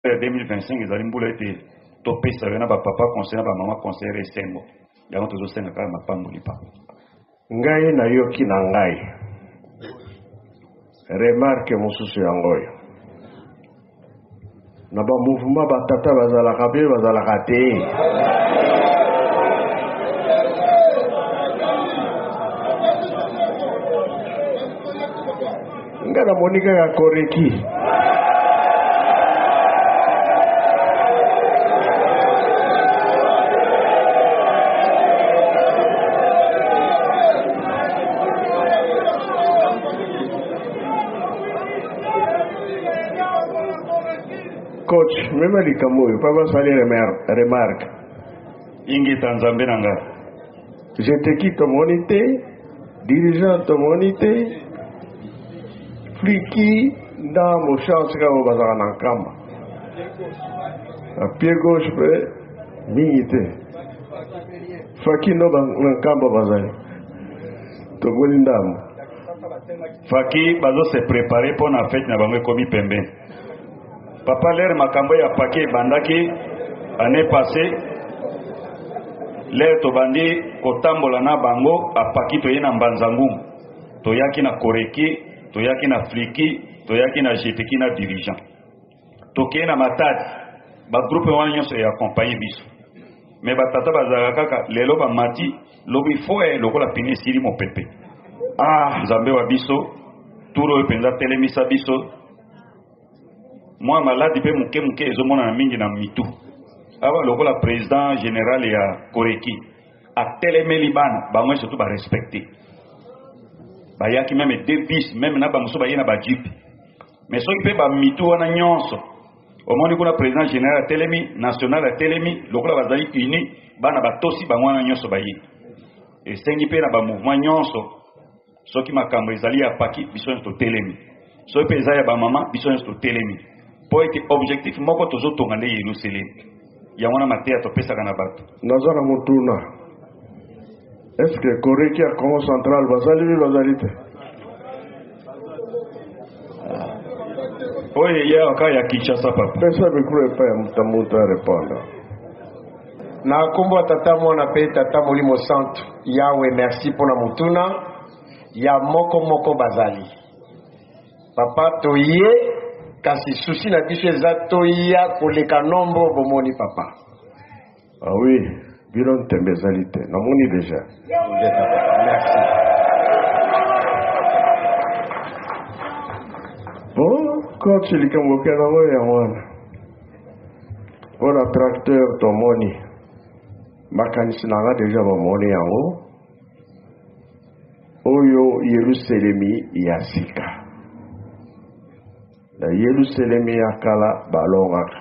2025 ezali mbula ete topesa yo na bapapa conseil na bamama conseillere ya esengo yango tozosenga kaka mapamboli papa ngai nayoki na ngai remarke mosusu yango oyo na bamouvema batata bazalaka mpe bazalaka te Nga na moni kaka koreki. Coach, mema likambo oyo, papa sali remarque. Ingeta nzambe na nga. Jeteki tomoni te, dirigeant tomoni te, Fliki na Moshans kaka oyo bazalaka na Nkamba na pied gauche mpe mingi te Fakino na Nkamba bazali tokoli ndambo Faki bazo se preparer mpo na fete na bango ekomi pembeni Papa lere makambo ya pake ebandaki annee passee lere tobandi kotambola na bango apaki toye na mbanza ngumu toyaki na koreki toyaki na fliki toyaki na jeteki na dirigeant tokei na matadi bagroupe wana nyonso eakompagne biso me batata bazalaka kaka lelo bamati lobi foye lokola pine esili mopepe ah nzambe wa biso turo oyo mpenza telemisa biso mwa maladi mpe moke moke ezomonana mingi na mitu awa lokola president general ya koreki atelemeli bana bango surtout barespecte bayaki meme de bis meme na bamosusu baye na bajipe me soki mpe bamitu wana nyonso omoni kuna president general atelemi national atelemi lokola bazali uni bana batosi bango wana nyonso baye esengi mpe na bamouvement nyonso Soki makambo ezali ya Paki, biso nyonso totelemi. Soki mpe eza ya bamama, biso nyonso totelemi. Mpo ete objectif moko tozotonga nde Yeluselemi. Yango wana mateya topesaka na bato. Naza na motuna. Est ce que Koreki ya Congo Central bazali bi bazali te? Oyo eya kaka ya Kinshasa papa. Pesa micro epai ya moto na moto a repondre. Na kombo ya Tata, Mwana pe Tata Molimo Santu. Yawe, merci po na motuna ya moko moko. Bazali Papa, toye kasi souci na biso eza toya koleka nombre oyo bomoni Papa. Ah oui, bino ntembe ezali te, namoni deja. Nde Papa, merci. Bon, coach likambo okelaka oyo yango wana. mpo na tracteur tomoni makanisi na nga deja bamoni yango oyo yerusalemi ya sika na yerusalemi ya kala balongaka